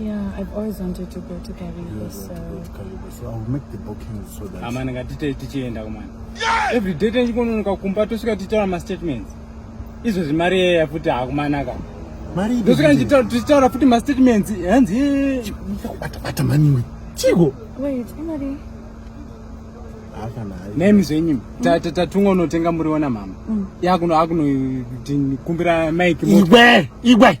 Yeah, I've always wanted to go to Kariba, so... so I'll make the booking so that... Amana ngatite tichienda kumana. Every day tenchikononoka kumba tosvika tichitaura mastatements. Izvo zvimari yeya futi hakumanaka. Mari ibe. Tosvika ndichitaura tichitaura futi mastatements. Hanzi ye. Bata bata mani. Chiko. Wait, imari. nemi zvenyu tatunga unotenga muriwo namama mm. yakuno akunokumbira mike igwe igwe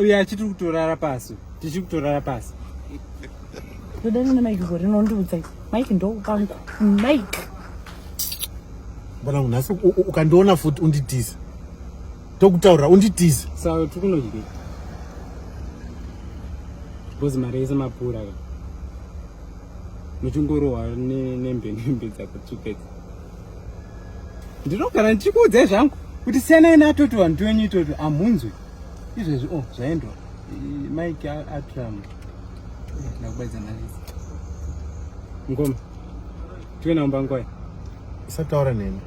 uye achiti kutorara pasi tichi kutorara pasi toda rine mike go rinondiudza mike ndoupangu mike mwanangu nhasi ukandiona futi unditiza tokutaurira unditiza sa tikunodye because mari yese mapura ka muchingorohwa nembe nembe dzakutsupedza ndinogara ndichikuudzai zvangu kuti siyanai natoto vanhu tiwenyu itoto amhunzwe izvezvi o oh, zvaendwa mike atram eh, ndakubaidza nalisi ngoma tive naumba ngwai usataura neni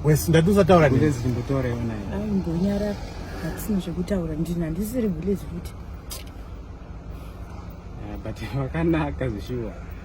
wes ndati usataura nezi ndimbotaura iona aimbonyara hatisina zvekutaura ndini handisiri village futi eh, but vakanaka zvishuwa